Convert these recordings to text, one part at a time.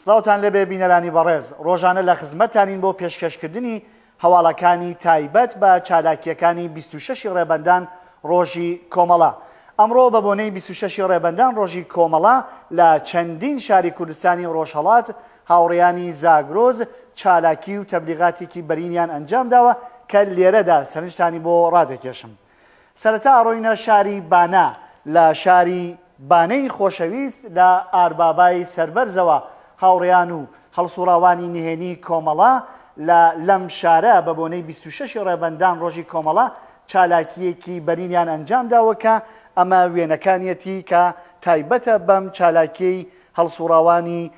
سڵاوتان لێبێ بینەرانی بەڕێز، ڕۆژانە لە خزمەتتانین بۆ پێشکەشکردنی هەواڵەکانی تایبەت بە چالاکییەکانی بیست و شەش ی ڕێبەندان ڕۆژی کۆمەڵە. ئەمڕۆ بە بۆنەی بیست و شەش ی ڕێبەندان ڕۆژی کۆمەڵە لە چەندین شاری کوردستانی ڕۆژهەڵات هاوڕێیانی زاگرۆز چالاکی و تەبلیغاتێکی بەرینیان ئەنجام داوە کە لێرەدا سەرنجتانی بۆ ڕادەکێشم. سەرەتا ئەڕۆینە شاری بانە، لە شاری بانەی خۆشەویست لە ئاربابای سەربەرزەوە هاوڕێیان و هەڵسوڕاوانی نهێنی کۆمەڵە لە لەم شارە بە بۆنەی بیست و شەش ی ڕێبەندان ڕۆژی کۆمەڵە چالاکییەکی بەرینیان ئەنجام داوە کە ئەمە وێنەکانیەتی کە تایبەتە بەم چالاکیەی هەڵسوڕاوانی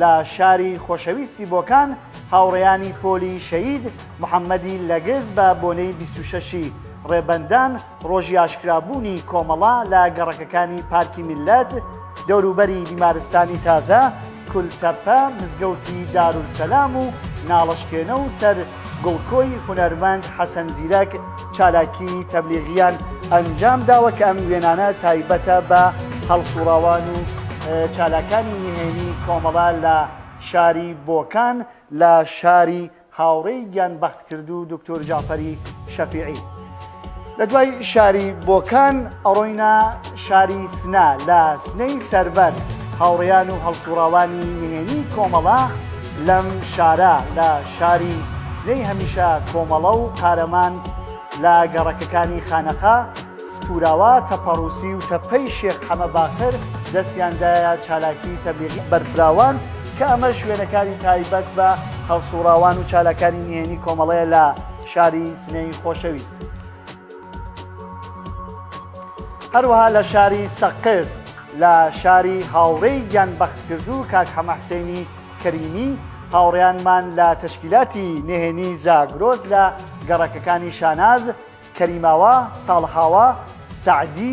لە شاری خۆشەویستی بۆکان هاوڕێیانی پۆلی شەهید محەممەدی لەگز بە بۆنەی بیست و شەشی ڕێبەندان ڕۆژی ئاشکرابوونی کۆمەڵە لە گەڕەکەکانی پارکی میللەت، دەوروبەری بیمارستانی تازە، کولتەپە، مزگەوتی دارولسەلام و ناڵەشکێنە و سەر گڵکۆی هونەرمەند حەسەن زیرەک چالاکی تەبلیغییان ئەنجام داوە کە ئەم وێنانە تایبەتە بە هەڵسوڕاوان و چالاکانی نهێنی کۆمەڵە لە شاری بۆکان لە شاری هاوڕێی گیانبەختکردوو دکتۆر جەعفەری شەفیعی. لە دوای شاری بۆکان ئەڕۆینە شاری سنە لە سنەی سەربەر هاوڕێیان و هەڵسوڕاوانی نهێنی کۆمەڵە لەم شارە لە شاری سنەی هەمیشە کۆمەڵە و قارەمان لە گەڕەکەکانی خانەقا سپوراوە تەپەڕوسی و تەپەی شێخ حەمە باقر دەستیاندایە چالاکی تەبلیغی بەرفراوان کە ئەمەش وێنەکانی تایبەت بە هەڵسوڕاوان و چالاکانی نهێنی کۆمەڵەیە لە شاری سنەی خۆشەویست هەروەها لە شاری سەقز لە شاری هاوڕێی گیان بەختکردوو کاک حەمەحسێنی کەریمی هاوڕیانمان لە تەشکیلاتی نهێنی زاگرۆز لە گەڕەکەکانی شاناز کەریماوە ساڵحاوە سعدی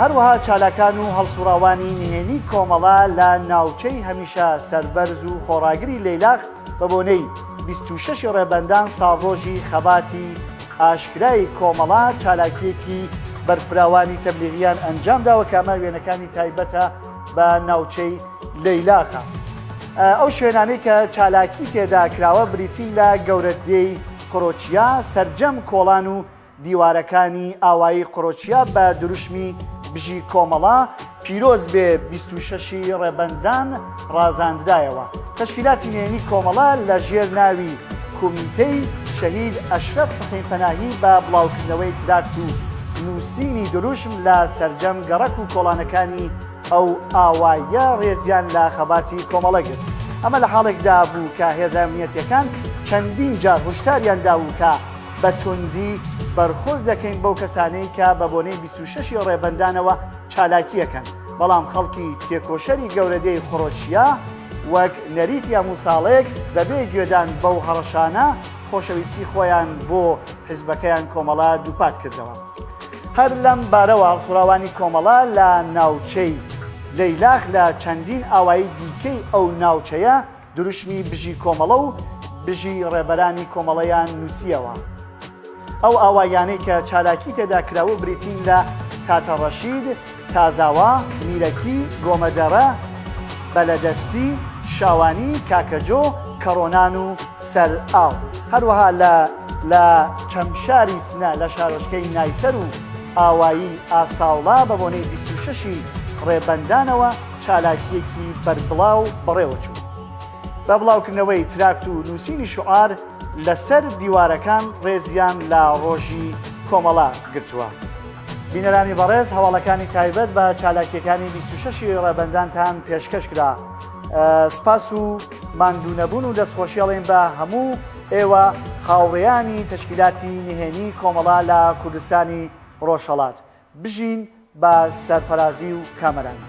هەروەها چالاکان و هەڵسوڕاوانی نهێنی کۆمەڵە لە ناوچەی هەمیشە سەربەرز و خۆڕاگری لەیلاق بە بۆنەی 26 ڕێبەندان ساڵڕۆژی خەباتی ئاشکرای کۆمەڵە چالاکیەکی بەرفراوانی تەبلیغیان ئەنجام داوە کە ئەمە وێنەکانی تایبەتە بە ناوچەی لەیلاقە ئەو شوێنانەی کە چالاکی تێدا کراوە بریتین لە گەورەدێی کڕۆچیا سەرجەم کۆڵان و دیوارەکانی ئاوایی قڕۆچیا بە دروشمی بژی کۆمەڵە، پیرۆز بێ بیست و شەشی ڕێبەندان ڕازاندرایەوە. تەشکیلاتی نێنی کۆمەڵە لە ژێر ناوی کومیتەی شەهید ئەشرەف حوسەین پەناهی بە بڵاوکردنەوەی تراکت و نووسینی دروشم لە سەرجەم گەڕەک و کۆڵانەکانی ئەو ئاواییە ڕێزیان لە خەباتی کۆمەڵە گرت. ئەمە لە حاڵێکدا بوو کە هێزە ئەمنیەتییەکان چەندین جار هۆشداریان دابوو کە، بە توندی بەرخۆز دەکەین بەو کەسانەی کە بە بۆنەی بیست و شەش ی ڕێبەندانەوە چالاکی ئەکەن، بەڵام خەڵکی تێکۆشەری گەورەدێی خرۆشیا وەک نەریت یا موساڵێک بەبێ گوێدان بەو هەڕەشانە خۆشەویستی خۆیان بۆ حیزبەکەیان کۆمەڵە دووپات کردەوە. هەر لەم بارەوە هەڵسوڕاوانی کۆمەڵە لە ناوچەی لەیلاخ لە چەندین ئاوایی دیکەی ئەو ناوچەیە دروشمی بژی کۆمەڵە و بژی ڕێبەرانی کۆمەڵەیان نووسییەوە. ئەو ئاوایانەی کە چالاکی تێدا کراوە بریتین لە، تاتە ڕەشید، تازاوا، میرەکی، گۆمەدەرە، بەلەدەستی، شاوانی، کاکەجۆ، کەڕۆنان و سەر ئاو. هەروەها لە لە چەمشاری سنە لە شارۆچکەی نایسەر و ئاوایی ئاساوڵا بە بۆنەی بیست و شەش ی ڕێبەندانەوە، چالاکییەکی بەربڵاو بەڕێوەچوو، بە بڵاوکردنەوەی تراکت و نووسینی شوعار لەسەر دیوارەکان ڕێزیان لە ڕۆژی کۆمەڵە گرتووە. بینەرانی بەڕێز هەواڵەکانی تایبەت بە چالاکییەکانی بیست و شەش ی ڕێبەندانتان پێشکەش کرا. سپاس و ماندوونەبوون و دەستخۆشی ئەڵێین بە هەموو ئێوە هاوڕێیانی تەشکیلاتی نهێنیی کۆمەڵە لە کوردستانی ڕۆژهەڵات. بژین بە سەرفەرازی و کامەرانی.